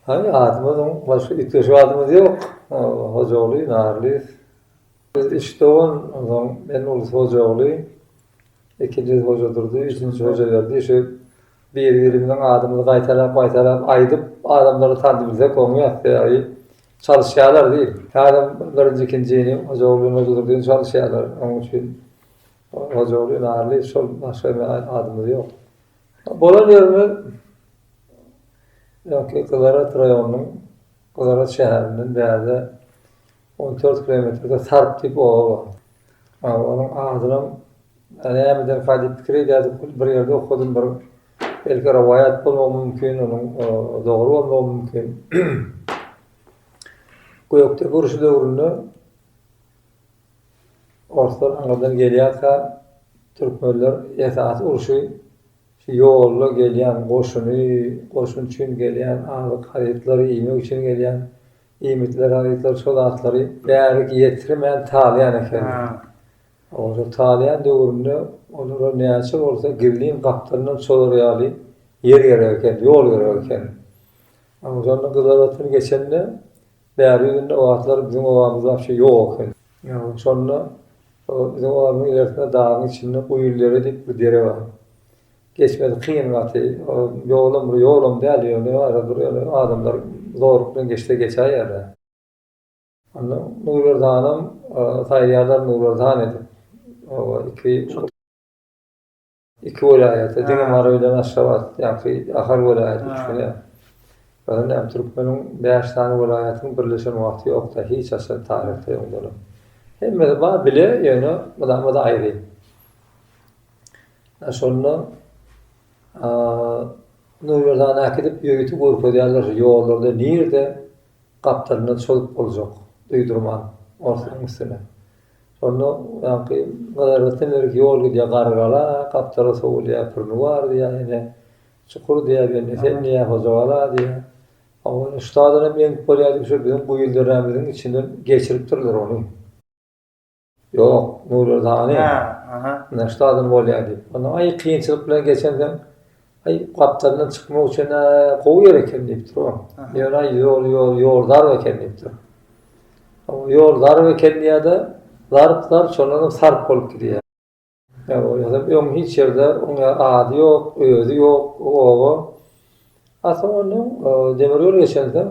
Hany adymyz oň başga üýtgeşik adymyz ýok. Hojaguly Narlyýew. Biz üç dogan, onsoň men ulus Hojaguly, ikinjisi Hojadurdy, üçünjisi Hojaberdi, şu Bir-birimiziň adymyzy gaýtalap-gaýtalap aýdyp, adamlary tandybilsek oňýar. Sebäbi çalyşýarlar diýip, häzir birinji, ikinjini Hojaguly bilen Hojadurdyny çalyşýarlar. Onuň üçin Hojaguly Ynarly şol, başga indi adymyz ýok. Bolan ýerimiz öňki Gyzarhat raýonynyň Gyzarhat şäherinden bärde on dört kilometrde Sarp diýip oba bar. Onuň adynam Ýa nämeden Halyp pikir edýärdi, hut bir ýerde okadym, bir belki rowaýat bolmagy mümkin, onuň dogry bolmagy mümkin. Gökdepe urşy döwründe orslar aňyrdan gelýärkä, türkmenler esasy urşy şu ýolda gelýän goşuny, goşun üçin gelýän azyk harytlary, iýmek üçin gelýän iýmitleri, harytlary, şo zatlary bärik ýetirmän talaýan ekenler. Olar talýan döwründe olara näçe bolsa gizlin gapdalyndan çolar ýaly ýer gerek eken, ýol gerek eken. Oguzhandan Gyzlar batyr geçende bäri ýüzünde o wagtlar biziň obamyz wapşe ýok eken. Şonda biziň obamyzyň ilersinde dagyň içinde Guýul dere diýip bir dere bar. Geçmesi kyn gaty. Ýolam bir ýolam däl ýöne arabir ýöne adamlar zorluk bilen geçse geçäýerler. Onda Nurberdanam saýlaýarlar Nurberdan edip. Oba iki iki welaýata diňe Mary bilen Aşgabat ýaňky Ahal welaýaty üçine. Özüne hem türkmeniň bäş sany welaýatynyň birleşen wagty ýokda hiç haçan taryhda öňdenem. Hemmesi bar bile ýöne mydama-da aýry. A şonda Nurberdana äkidip ýörite görkezýärler ýollarda nirde Gapdalynda çozup boljak duýdurman orslaň üstüne. Şonda ýaňky gyzarykdan berik ýol gidýär Garygala, gapdala sowulýar Pürni bar diýýär, ene Çukur diýýär, Bendi sen diýýär, Hojagala diýýär. Hawa, ine şutada hem eňip bolýar diýip, şo biziň guýy deremiziň içinden geçiripdirler ony. Ýok, Nury Rzaýew. Hä, aha. Ine, şu adam bolýar diýip. Onda aý kynçylyk bilen geçensoň, aý gapdalyndan çykmak üçin gowy ýer eken diýipdir o. Ýöne aý ýol ýol ýol dar eken diýipdir. Ýol dar eken diýýär-de, zarp zarp şondan soň sarp bolup gidýär. Öň hiç ýerde oň ady ýok, özi ýok bu oba. A soň onda demir ýol geçensoň,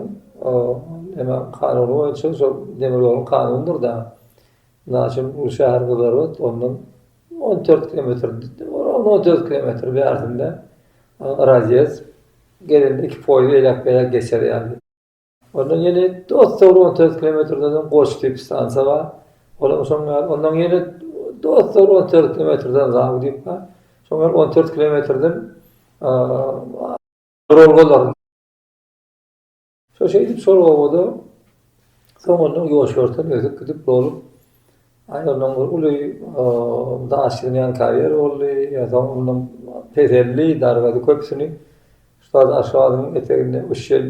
emma kanuny boýunça şol demir ýoluň kanunydyr-da. Mysal üçin, bu şäher Gyzlarbat, ondan on dört kilometr, ora-da on dört kilometr bärsinde razýezd. Gelende iki poýuz eýläk-beýläk geçer ýaly. Ondan ýene Dostogry on toýrt kilometrden soň Goç diýip stansiýa bar. Olam şoň ýaly. Ondan ýene Dostogry on toýrt kilometrden Zaw diýip bar. Şoň ýaly on toýrt kilometrden Rolgalar. Şo şeýdip şol obada soňundan ýoşerten öýdüp gidip bolup Aý ondan bir uly daşyny ýanka ýer boldy, ýa-da ondan peseldi, dargady köpüsini. Ussat Aşgabadyň eteginde Uşel,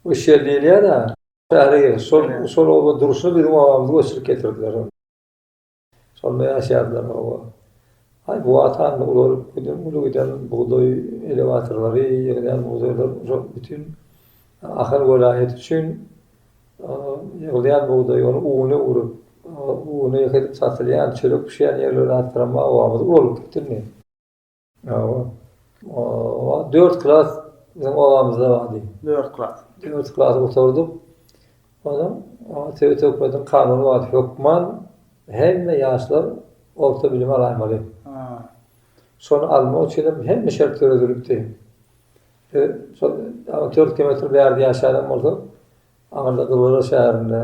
Uşel diýilýär-ä. Bäri gel, şol, şol oba Durşy biziň obamyzy göçürip getirdiler. Şonda ýaşaýardylar oba. Aý bu watan ular uly giden bugdaý elewatorlary, ýygnan bugdaýlar, şol bütin Ahal welaýaty üçin Ýygylýan bugdaý ony uny urup, uny ýeke edip satylýan, çörek bişýän ýerleri artdyramak obamyz ulalyp gitdimi? Hawa. Oba, dört klas biziň obamyzda bardy. Dört klas. Dört klasy gutardyk. Onuň sebit hökümetiniň kanuny bardy, hökman hemme ýaşlar orta bilim alaýmaly. Şony almak üçin hem hemme şert döredilipdi. Şol ýagny dört kilometr bärde ýaşaýanam bolsa, aňyrda Gyzylöre şäherinde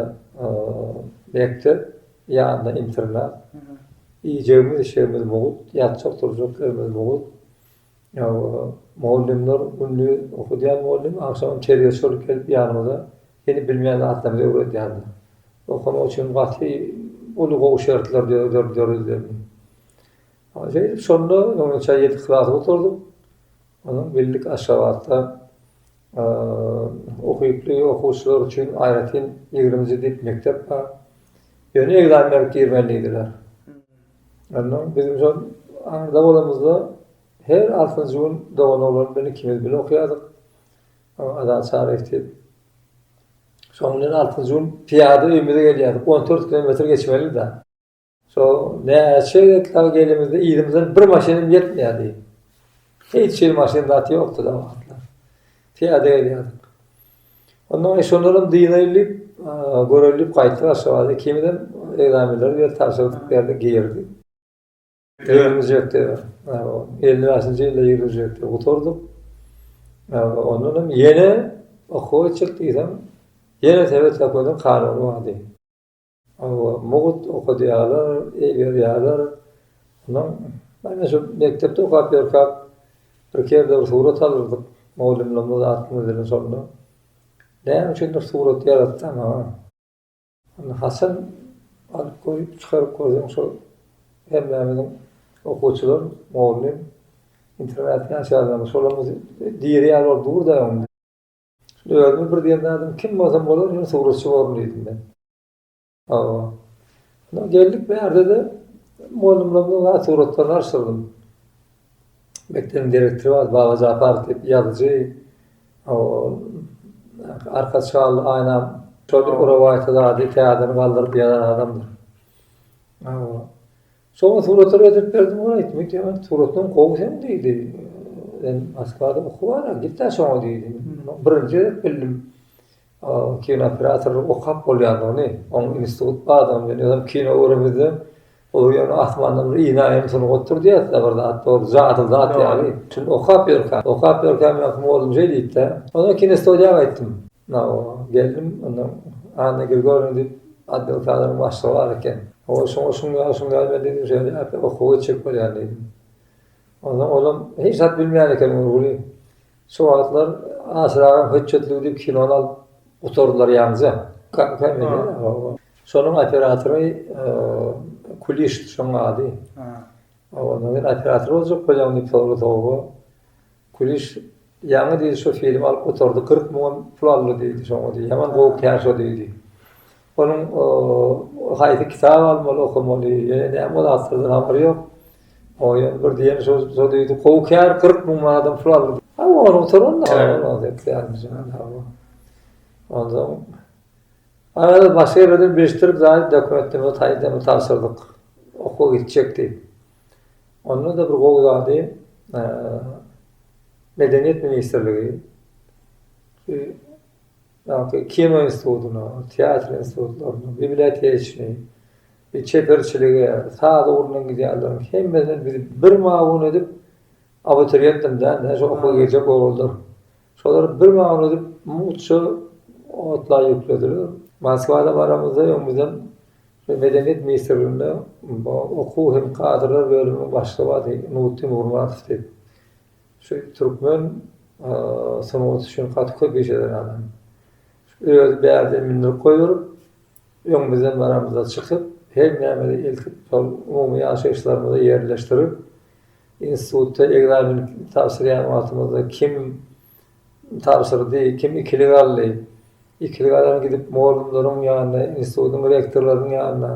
mekdep, ýanynda internat. Iýjegimiz, içjegimiz mugt, ýatjak, turjak ýerimiz mugt. Mugallymlar gündiz okadýan mugallym, agşamam terbiýeçi bolup gelip ýanymyza hili bilmeýän zatlarymyzy öwredýärdi. Okamak üçin gaty uly gowy şertler döredildi. Şeýdip, şonda ýedi klasy gutardyk. Bildik Aşgabatda ukyply okuwçylar üçin aýratyn ýigrimji dip mekdep bar. Ýöne ekzamen berip girmeli diýdiler. Onda biziň şol arda bolamyzda her altynjy gün dogan oglan bilen ikimiz bile okýardyk. Azat Çaryýew diýip. Şoň bilen altynjy gün pyýada öýümize gelýärdik. On dört kilometr geçmelidi-de. Şo näçe gezekler gelimizde yzymyzdan bir maşynym ýetmeýärdi. Hiç hili maşyn zat ýokdy da wagtlar. Piýada gelýärdik. Ondan şondan dynaylyp, görelip gaýtdy Aşgabada kimden egzamenleri berip tabşyrdyk berdi girdi. Girmejekdi. Elli bäşinji ýylda girmejekdi. Gutardyk. Ondan hem ýene okuwa çyk diýsem, ýene sebet okuwynyň kanuny bardy. Hawa, mugt okadýarlar, eý berýärler. Ondan ýene şu mekdepde okap ýörkäk bir kerde bir surat alyrdyk. Mugallymlarymyz aklymyza gelen şonda. Näme üçindir surat ýaratsaň ha. Onda haçan alyp goýup çykaryp görseň şo hemmämiziň okuwçylar, mugallym, internatda ýaşaýanlarymyz şolarymyz diri ýaly bolup dur-da. Özümi bir diýen zadym kim bolsam bolar ýöne suratçy borun diýdim men. Hawa. Şonda geldik bärde-de mugallymlarymyza wah suratlaryny arsyrydym. Mekdebiň direktory bar Baba Japarow diýip ýazyjy. Hawa. Arka çal aýna şol rowaýaty zady täzeden galdyryp ýazan adamdyr. Hawa. Soňra suratlary getirip berdim olar aýtdy, men diýýän, suratlaryň gowy seň diýdi. Sen Moskwada okuw bar, git-ä şoňa diýdi. Birinji gezek bildim, kinooperatorlyk okap bolýandygyny, onuň institut bardygyny, men özüm kino göremizde, olar ýöne asmandan bir ine aýan sunup oturdy ýa-da bir zat bar, jadyly zat ýaly, şuny okap ýörkä, okap ýörkä, men kim boldum şeý diýdi-de. Onsoň kinostudiýa gaýtdym. Nawa, geldim, onda Anna Grigorýewna diýip, atdewsalaryň başlygy bar eken. Hawa, şoňa şuň ýaly, şuň ýaly men diýdim, şeýleräk okuwa geçjek bolýan diýdim. Onsoň olam hiç zat bilmeýän eken Nurguly. Şo wagtlar Aşyragam hötjetligi diýip kinony alyp gutardylar ýaňja. Şonuň operatory Kulişdi şonuň ady. Hawa, onda men operator boljak bolýan diýip sordy Toba. Gülüş, Ýaňy diýdi şo film alyp gutardy, kyrk müňem pul aldy diýdi şoňa diýdi, ýaman gowy kär şo diýdi. Onuň haýsy kitap almaly, okamaly, ýene näme zatlardan habary ýok. Oňa ýöne bir diýeni şo şo diýdi, gowy kär kyrk müň manadam pul aldy. Hawa ony gutaran ony. Onsoň başga ýerlerden bilişdirip zaýat dokumentleme taýdan tabşyrdyk. Okuwa gitjek diýip. Onda-da bir gowy zady Medeniýet ministrligi şu ýagty kino institutyna, teatr institutlaryna, biblioteka işini, çeperçilige, saz ugrundan gidýänleriň hemmesini bizi bir mawun edip abituriýentdim däl-de, şu okuwa girjek oglanlar. Şolary bir mawun edip mugt şu otla ýüklediler. Moskwada baramyzda öň bizden Medeniýet ministrliginde okuw hem kadrlar bölüminiň başlygy bardy, Nurtdin Gurmatow diýip. Şu türkmen sungaty üçin gaty köp iş eden adam. Özi bärde mindirip goýberip, öňümizden baramyzda çykyp, her nämede eltip, şol umumy ýaşaýyşlarymyza ýerleşdirip, institutda ekzamen tabşyrýan wagtymyzda kim Tabşyrdy. Kim ikili galdy? Ikili galan gidip mugallymlaryň ýanyna, institutyň rektorlarynyň ýanyna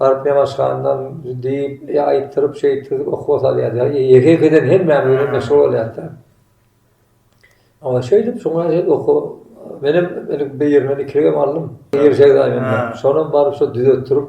baryp nemaşgandan diýip, aýtdyryp, şeýtdirip okuwa salýardy. Ýeke-ýekeden hemmämiz bilen meşgul bolýardy-da. Oňa şeýdip, şoňa şeýdip okuwa menem indi birinden ikiligem aldym. Şonam baryp şo düzetdirip,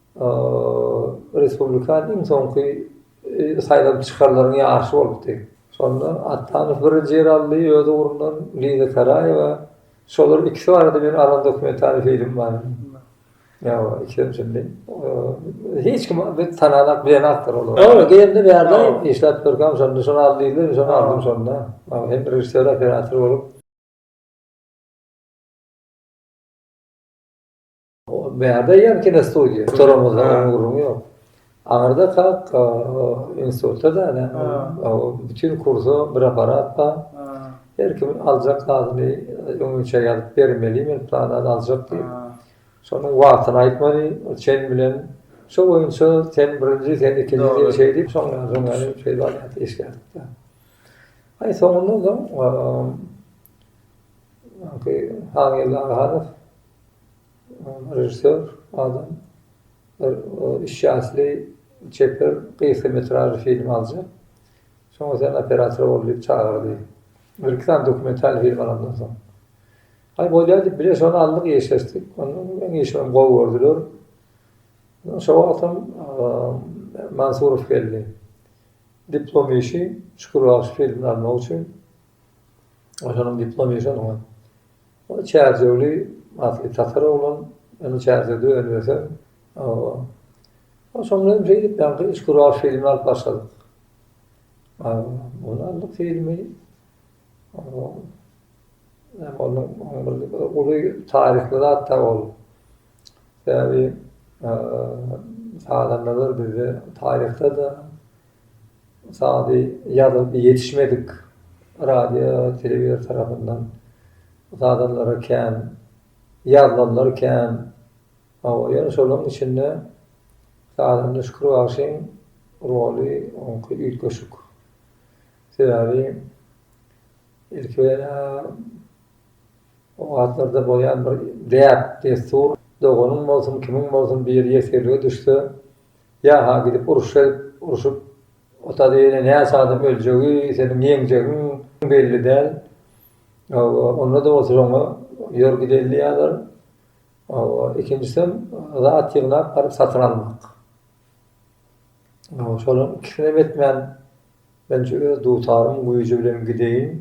Respublikan iň soňky saýlanyp çykanlaryň ýaryşy bolupdy. Şonda Atdanow birinji ýeri aldy, öz ugrundan Liza Karaýewa. Şolaryň ikisi barada meni alan dokumentary film bar. Ýa-a, ikisem şindi. Hiç kim biz tanalap bilen aktor olar. Ýa-a, geldi bärde işläp durkam şonda şony al diýdiler, şony aldym şonda. Hem režissýor, operator bolup. Bärde ýan kinostudiýa. Toramyzda gürrüň ýok. Aňyrda kak institutda däne. Bütün kursa bir aparat bar. Her kim aljak zadyny öňünçä ýazyp bermeli, men plan zat aljak diýip. Şonuň wagtyny aýtmaly, çen bilen. Şo boýunça sen birinji, sen ikinji diýip şeýdip, soňra soňra şeýdip alýardy, işlärdi. Aý soňunda-da Hanyýella Aghanow Režissýor adam bir üç ýaşly çeper gysga metražly film aljak. Şoňa sen operator bol diýip çagyrdy. Bir-iki sany dokumental film alandan soň. Aý bolýar diýip bile şony aldyk, işleşdik. Onuň işini gowy gördüler. Şo wagtam Mansurow geldi. Diplom işi Şükür bagşy filmini almak üçin. Onuň diplom işi onuň. Ol çärjewli asly tatar oglan, ony çärjewde önübeseň, o soňra hem şeýdip ýaňky Işgürow filmini alyp başladyk. Ony aldyk filmi, ony uly taryhly zat-da ol. Sebäbi sazandalar bizde taryhda-da, Sazy ýazylyp ýetişmedik radio, telewizor tarapyndan sazanlara kän, ýazylanlar kän. Hawa, ýöne şolaryň içinde sazanda Şükür bagşyň roly oňki üýtgeşik. Sebäbi ilki bilen-ä o wagtlarda bolýan bir däp-dessur, doganyň bolsun, kimiň bolsun biri ýesirlige düşse, Ýa-ha gidip uruşa gidip, uruşyp, o taýda ýene näçe adam öljegi, seniň ýeňjegiň belli däl. Hawa, onda-da bolsa şoňa ýör gideýin diýýärler. Hawa, ikinjisem zat ýygnap baryp satyn almak. Hawa, şolaryň ikisinem etmän, men şu öz dutaryň güýji bilen gideýin,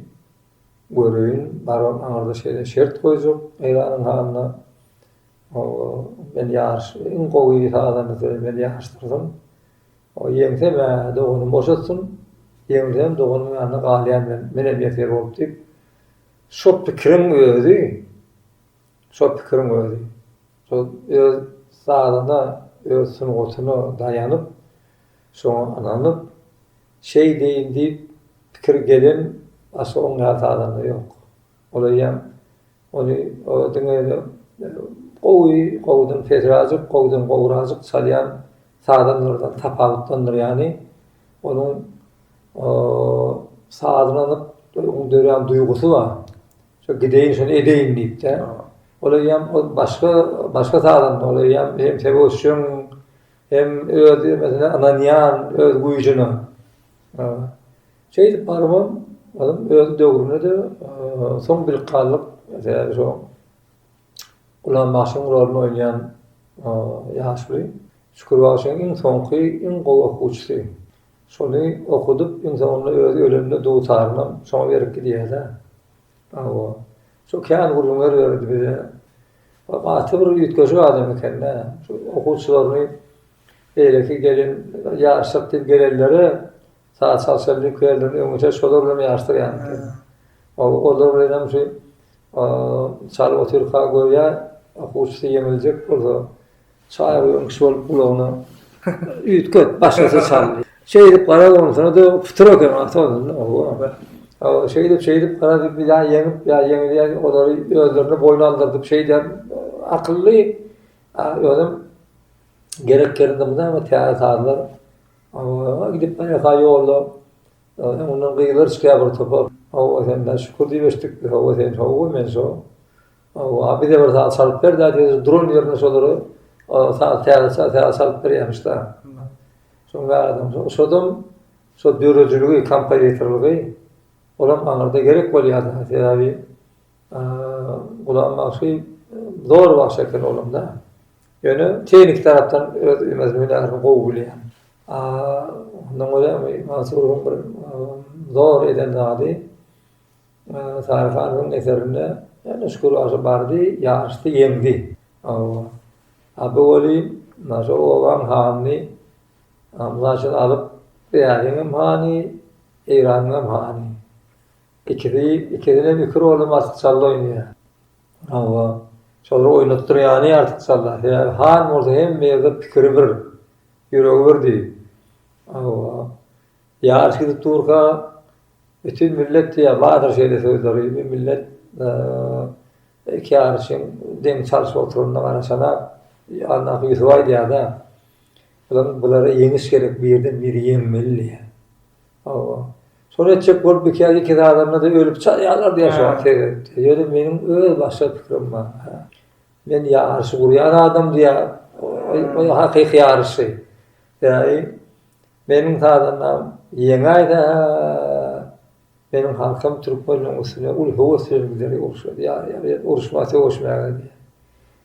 göreýin, barybam aňyrda şeýle şert goýjak Eýranyň hanyna. Hawa, men ýaryş iň gowy sazandasy men ýaryşdyrsam, ýeňsem-ä doganym boşatsyn, ýeňilsem doganymyň ýanynda galýan men, menem ýeser bolup diýip, şo pikiriň özi, şo pikiriň özi, şol öz sazyna, öz sungatyna daýanyp, şoňa ynanyp, şeýdeýin diýip pikir gelen başga oňýar sazanda ýok. Ol eýýäm ony diňe gowy, gowudan pesräjik, gowudan gowraajyk çalýan sazandalardan tapawutlandyrýany, onuň sazyny alyp, onuň dörän duýgusy bar. Şo gideýin, şony edeýin diýip-de. Ol eýýäm ol başga, başga sazanda, ol eýýäm hem söweşjeň, hem öz ýöresine ynanýan, öz güýjüne. Şeýdip barybam, olam öz döwründe-de soň bilip galdyk, sebäbi şo Gulam bagşyň roluny oýnaýan ýaşuly Şükür bagşyň iň soňky, iň gowy okuwçysy. Şony okudyp, iň soňunda özi ölende dutarynam şoňa berip gidýär-dä. Hawa, şo kän gürrüňler berdi bize. Ol gaty bir üýtgeşik adam eken-dä. Okuwçylaryny beýleki gelen ýaryşsak diýip gelenlere Saz çalşan lüklerden öňüçe şolar bilen ýaryşdyrýan eken. Olar bilen hem şu çalyp otyrka görýä, okuwçysy ýeňiljek bolsa, çaý guýan kişi bolup gulagyna üýtgep, başgasy çal. Şeýdip garap onsoň-da pytyr eken awtomobilde. Oba. Şeýdip, şeýdip gara diýip ýa ýeňip, ýa ýeňilýän olary özlerine boýun aldyrdyp şeýdýän akylly özem gerek ýerinde mundan täze sazlar Awa, gidip bireha ýolda öňünden gyzlar çykýar bir topar. Hawa, sen-dä şükür diýip eşitdik biz. Hawa, sen hawa, men şo. Hawa, a bize bir saz çalyp ber-dä diýdi. Duran ýerinde şolary saz täzeçe saz çalyp berýärmiş-de. Şoň bärem şodam şo döredijiligi, kompozitorlygy olam aňyrda gerek bolýar-da. Sebäbi Gulam bagşy zor bagşy eken oglumda. Ýöne tehniki tarapdan öz ümezini nähili gowy bilýän. Ondan görä Mansuryň bir zor eden zady Sary hanyň eserinde ýene Şükür bagşy bardy, ýaryşdy, ýeňdi. Hawa. A bu welin mundan şo obaň hanyny mysal üçin alyp, Ýaryň hem hany, Eýranyň hem hany. Ikisi ikisinem iki roly artykçally oýnaýar. Hawa, şolar oýnatdyrýany artykçalla. Sebäbi han bolsa hemme ýerde pikiri bir, ýüregi bir düý. Hawa, ýaryş gidip durka bütin millet diýýär, bardyr şeýle sözleri, bu millet iki ýaryşyň deňi çalşyp oturanyna garaşanam, Annaýusup aýdýar-da, Bulara ýeňiş gerek, birden biri ýeňmeli diýýär. Hawa. Şony etjek bolup bikäri iki zadarynda-da ölüp çalýarlar diýýär şoňa seredip-de. Ýöne meniň öz başga pikirim bar. Men ýaryşy gurýan adam diýýär. Oý, hakyky ýaryşy. Bäý, meniň sazandam ýeňäýse, meniň halkym türkmenleriň üstüne uly höwes bilen gider urşa diýýär. Uruşmaga, söweşmäge diýýär.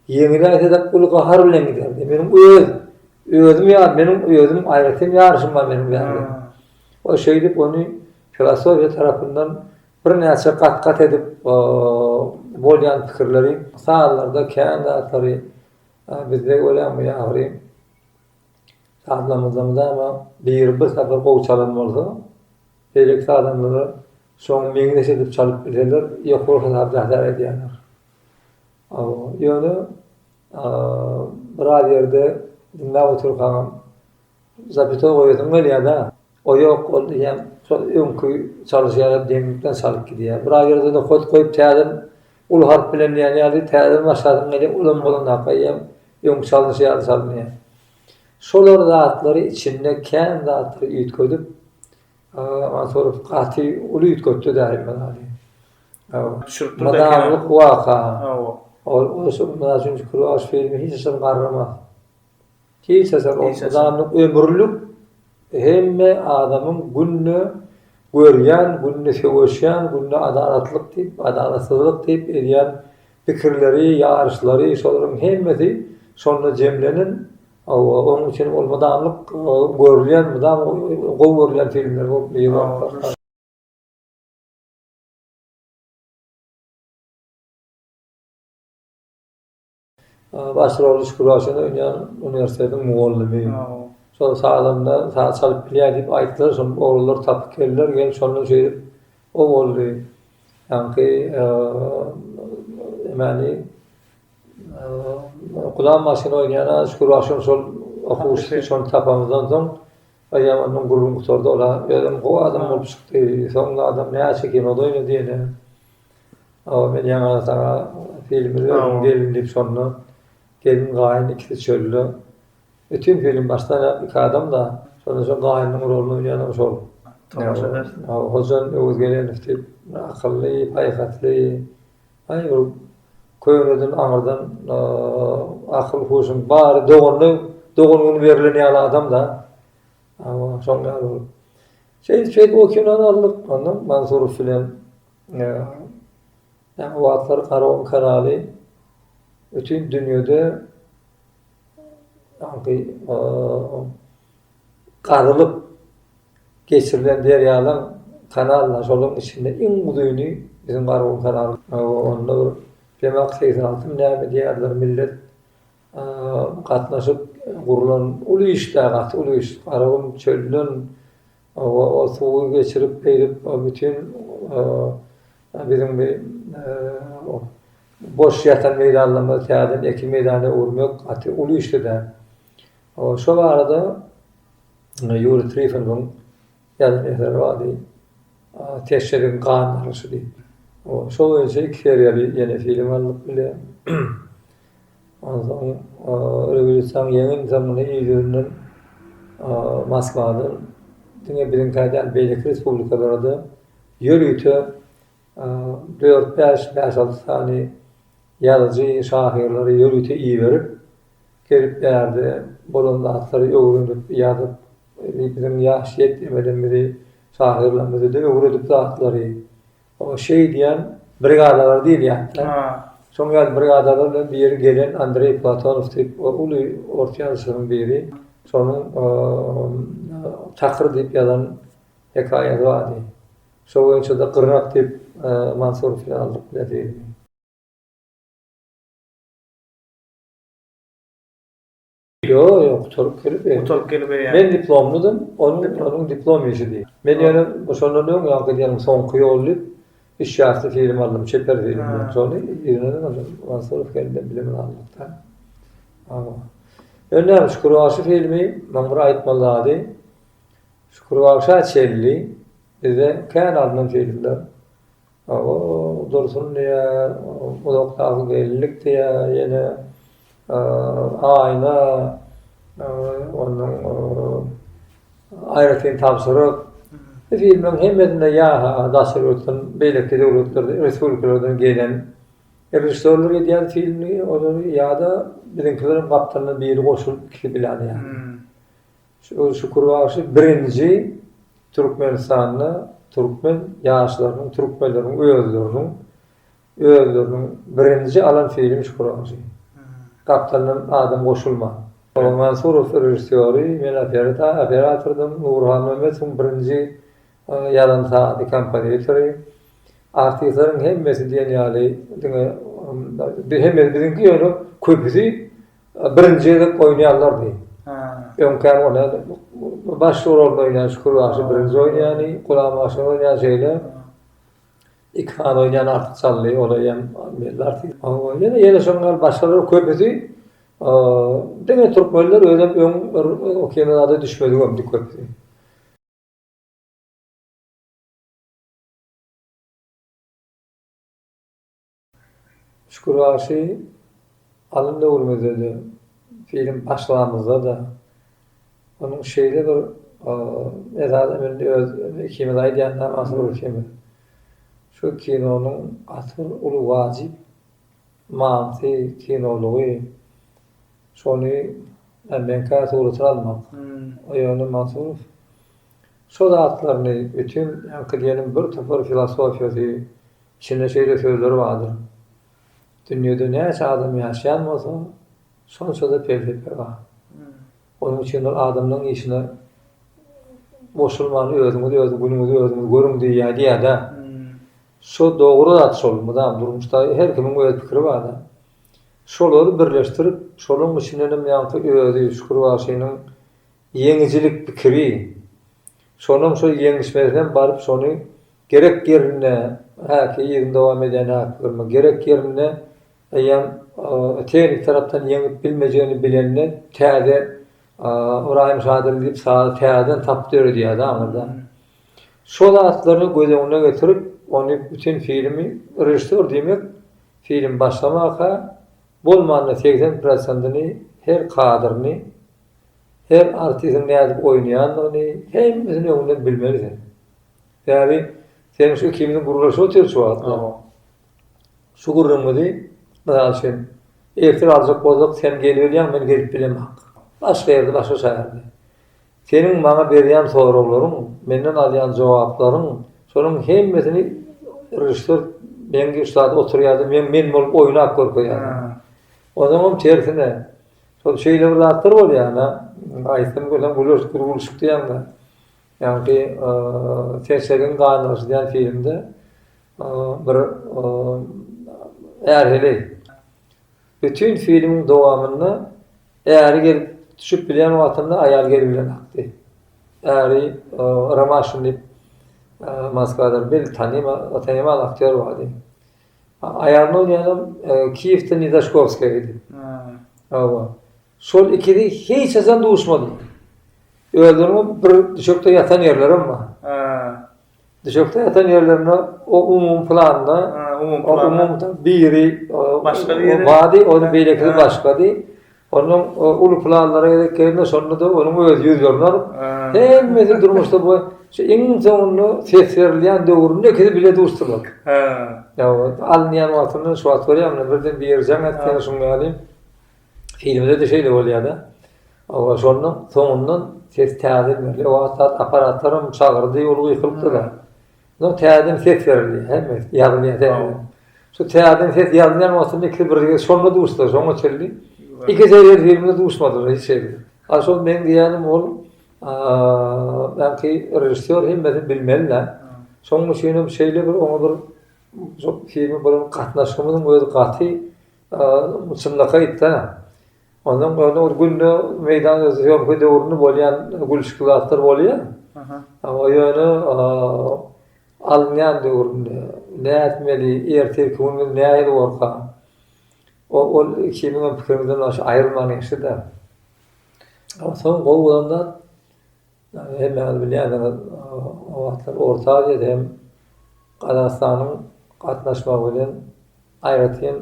Ýeňiji aýtsa-da uly gahar bilen giderdi. Meniň öz özüm ýa meniň özüm aýratyn ýaryşym bar meniň bärde. Ol şeýdip ony filosofiýa tarapyndan birnäçe gat-gat edip bolýan pikirleri sazlarda kän zatlary bizde görýäňmi ýa agry sazlarymyzda mydama biri bir sapar gowy çalan bolsa beýleki sazandalar şoňa meňzeş edip çalyp bilseler ýokary hasap edýärler. Ýöne biraz ýerde diňläp otyrkaňam zapytoý goýasyň gelýär-dä. O ýok, ol diýýän şol öňki çalyş ýaly deňlikden çalyp gidýär. Biraz ýerde nokat goýup täzeden uly harp bilen diýen ýaly täzeden başlasyň gelýär, olam bolanda eýýäm öňki çalynyşy ýaly çalynýar. Şolar zatlary içinde kän zatlary üýtgedip, Mansurow gaty uly üýtgetdi-dä Hemmedaly. Mydamlyk waka. Ol ösüp, mysal üçin, Kruaş filmi hiç haçan garramas. Hiç haçan. Ol mydamlyk, ömürlik hemme adamyň günde görýän, günde söweşýän, günde adalatlyk diýip, adalatsyzlyk diýip edýän pikirleri, ýaryşlary, şolaryň hemmesi şonda jemlenen. Hawa, onuň üçin ol mydamlyk görülýän, mydama gowy görülýän filmler bolup ýygy. Baş roly Şükür Waşen oýnaýan uniwersitetiň mugallymy. Şol sazanda saz çalyp bilýär diýip aýtdylar, şonda oglanlar tapyp geldiler, gel şonda şeýdip o boldy. Ýaňky emani Gulam Waşen oýnaýan Şükür Waşen şol okuwçysy, şony tapamyzdan soň, Eýýäm ondan gürrüň gutardy. Ol-a özem gowy adam bolup çykdy. Soňra adam näçe kinoda oýnady ýene. Awa, men ýaňy-da saňa filmi öwreniň gelin diýip, şonda gelin-gaýyn ikisi çölde. Bütin film başdan-aýak iki adam-da. Şonda şol gaýynyň roluny oýnaýanam şol. Tomaşa edersiň. Hojalyň Öwezgelenow diýip, akylly, paýhasly, Aý ol köneden aňyrdan akyl huşuň bary doganyna dogan güni berlen ýaly adamda hawa şoň ýaly bolup şeýdip şeýdip o kinony aldyk ondan Mansurow bilen ýa o wagtlar Karaon kanaly bütin dünýede aňky gazylyp geçirilen derýalaň kanallar şolaryň içinde iň uzyny biziň Garagum kanaly. Onda bir Demak seýsen altym näme diýýärler millet gatnaşyp gurlan uly işdä gaty uly iş Garagum çölden o suwy geçirip beýdip bütin biziň bi boş ýatan meýdanlarymyzy täzeden ekin meýdana öwürmek gaty uly işli däl. Şo barada Ýuriý Trifonowyň ýazan eseri bardy, Teşeriň gan alyşy diýip. Şo boýunça iki seriýaly ýene film aldyk bile. Onsoň rewolýusiýaň ýeňildi, muny il ýüzünden Moskwadan diňe biziňkä däl, beýleki respublikalara-da ýörite Dört-bäş, bäş-alty sany ýazyjy, şahyrlary ýörite iberip, gelip bärde bolan zatlary öwrenip, ýazyp, biziň ýaş ýetgimelerimizi, şahyrlarymyzy-da öwredip zatlary. Oňa şeý diýen brigadalar diýilýärdi-de. Şoň ýaly brigadalar bilen bir ýeri gelen Andreý Platonow diýip, ol uly ors ýazyjylaryň biri. Şonuň Çakyr diýip ýazan hekaýasy bardy. Şo boýunça-da gyrnak diýip Mansurowy aldyk bilen söýündi. Ýok, ýok, gutaryp gelip ýok. Gutaryp gelip ýok. Men diplomlydym, onuň diplom işidi. Men ýöne şondan öň ýa gidýäniň soňky ýoly diýip, üç ýasty film aldym, çeper film diýip, şony ýygnadyk ondan. Mansurow geldi bilen bile aldyk-da. Ýöne näme, Şükür bagşy filmi, maňa bir aýtmaly zady, Şükürbagşa çenli bize kän alnan filmler, o Dursun diýer, Uzakdaky gelinlik diýer, ýene Aýna, ondan Aýratyn tabşyryk. Bu filmleriň hemmesinde ýa daşary ýurtdan, beýleki döwletlerden, respublikalardan gelen režissýorlar edýärdi filmleri, olary ýa-da biziňkileriň gapdalyndan biri goşulyp ikisi bilen edýärdi. Şol Şükür bagşy birinji Türkmenistanda türkmen ýaşlarynyň, türkmenleriň özleriniň özleriniň birinji alan filmi Şükür bagşy. Gapdalyndan adam goşulman. Oňa Mansurow režissýory, men operatordym, Nury Halmämmedowyň birinji ýazan sazy, kompozitory. Artistleriň hemmesi diýen ýaly diňe hemmesi biziňki ýöne köpüsi Birinji gezek oýnaýanlardy. Öňkäm ony baş rolunda oýnaýan Şükür bagşy birinji oýnaýany, Gulam bagşynyň oýnaýany şeýle. Iki sany oýnaýan Artyk Çally, ol eýýäm belli artist. Ýöne ýene şoň ýaly başgalar köpüsi diňe türkmenler özem öň bir o kinoda düşmedigimdi köpüsi. Çukurbaşy alym döwrümizde-de, film başlagamyzda-da onuň şeýle bir edada mündi, öz ikimiz aýdýandan Asygül ikimiz. Şu kinonyň asyl uly wajyp manysy, kinolygy, şony MNK-a suratyny almak. Ýöne Mansurow şo zatlaryny bütin, ýaňky diýeniň birtopar filosofiýasy, Çynda şeýle sözler bardyr, Dünýede näçe adam ýaşaýan bolsa, şonça-da pelsepe bar. Onuň üçin bir adamlaryň işine goşulman özüňiz öz günüňizi özüňiz görüň diýýär diýýär-dä. Şo dogry zat şol, mydam durmuşda her kimiň öz pikiri bar-da. Şolary birleşdirip, şolaryň içindenem ýaňky özi Şükür bagşynyň ýeňijilik pikiri, Şonam şol ýeňişmez hem baryp şony gerek ýerinde, häki yzyny dowam edýän häkigirme, gerek ýerinde eýýäm tehnik tarapdan ýeňip bilmejegini bilende täze Ybraýym Şadyr diýip sazy täzeden tapyp döredýärdi aňyrda. Şo zatlaryny göz öňüne getirip ony bütin filmi režissýor diýmek filmi başlamaka bolmanda segsen prosentini her kadryny Her artiziň nädip oýnaýandygyny hemmesini öňünden bilmeli sen. Sebäbi sen şu ikimiziň gürleşip otyr şu wagtlar. Şu gürrüňimizi, mysal üçin, efir aljak bolsak sen gelibilýäň men gelip bilemak. Başga ýerde başga şäherde. Seniň maňa berýän soraglaryň, menden alýan jogaplaryň şonuň hemmesini režissýor meňki ussat oturýardy, men men bolup oýnap görkezýärdim. Onuňam tersine. Şol şeýle bir zatlar bolýar-da, aýtsam gülem gülüşipdir, gülüşip diýemde. Ýagny, Serçegiň ganlygyşy diýen filmde bir är heleý. Bütin filmiň dowamynda äri gelip düşüp bilýän wagtynda aýal gelip bilen akdy. Äri Romaşin diýip, Moskwadan bil, tanymal aktýor bardy. Aýalyna oýnýanam Kiýewden Nizashkowskaýa gidip. Hawa. Şol ikisi hiç haçan duşmady. Özleriniň bir düşekde ýatan ýerlerem bar. Düşekde ýatan ýerlerinde o umumy planda, umumy biri başgady, ony beýlekisi başgady. Onuň uly planlary gezek gelende şonda-da onuň özi ýüz ýolun alyp, hemmesi durmuşda bu şu iň soňunda ses berilýän döwründe ikisi bile duşdular. Ýa-da alynýan wagtynda şu wagt görýämiň, birden bir ýeri jaň etdi ýa-da şuňa ýaly. Filmde-de şeýle bolýar-da. Hawa, şonda soňundan ses täze berilýär. O wagt zat apparatlaram çagyrdy, ol gykylypdy-da. Soň täzeden ses berildi. Hemmesi ýazylýar täzeden. Şu täzeden ses ýazylýan wagtynda ikisi birgide şonda duşdular, şoňa çenli iki serial filmde duşmadylar hiç hili. A şol meň diýýänim ol belki režissýor hemmesini bilmeli-dä. Şonuň üçin hem şeýle bir oňa bir şol filme bolan gatnaşygymyzyň özi gaty çynlakaýda. Ondan öň bir günde meýdan öz zýomka döwründe bolýan gülüşikli zatlar bolýar. Aha. Ýöne alynýan döwründe nätmeli, ertirki gün biz nähili borka? O ol ikimiziň hem pikirimizden aýrylman geçdi-de. Soň gowy bolan zat Hemmäňiz bilýändiňiz, o wagtlar Orta Aziýada hem Gazagystanyň gatnaşmagy bilen aýratyn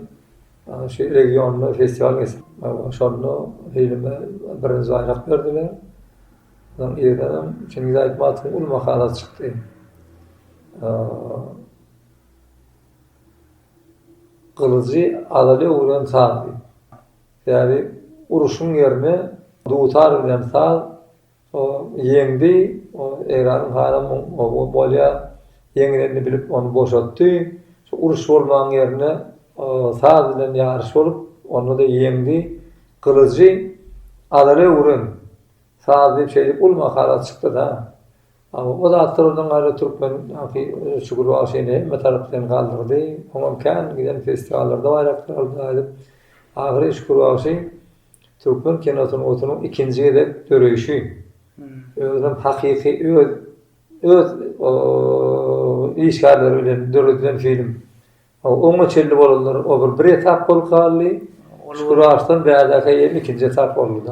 şu regionda festiwal geçip, şonda filme birinji baýrak berdiler. Soň irdenem Çingiz Aýtmatowyň uly makalasy çykdy. Gylyjy azaly öwren saz diýip. Sebäbi uruşyň ýerine dutar bilen saz O ýeňdi. O Eýranyň haram oguny bolýar. Ýeňilenini bilip ony boşatdy. Şu uruş bolmaň ýerinde saz bilen ýaryş bolup, onda-da ýeňdi. Gylyjy Azala öwren. Saz diýip şeýdip uly makala çykdy-da. O zatlardan gaýra türkmen ýaňky Şükür bagşyny hemme tarap bilen galdyrdy. Oňam kän giden festiwallarda baýraklar aldy aýdyp. Ahyry Şükür bagşy. Türkmen kinosynyň otunyň ikinji gezek döreýşi özüniň hakyky öz öz işgärleri bilen döredilen film. Oňa çenli bolanlar o bir bir etap bolup galdy. Şükür Arslan bädäkä ýerim ikinji etap boldy.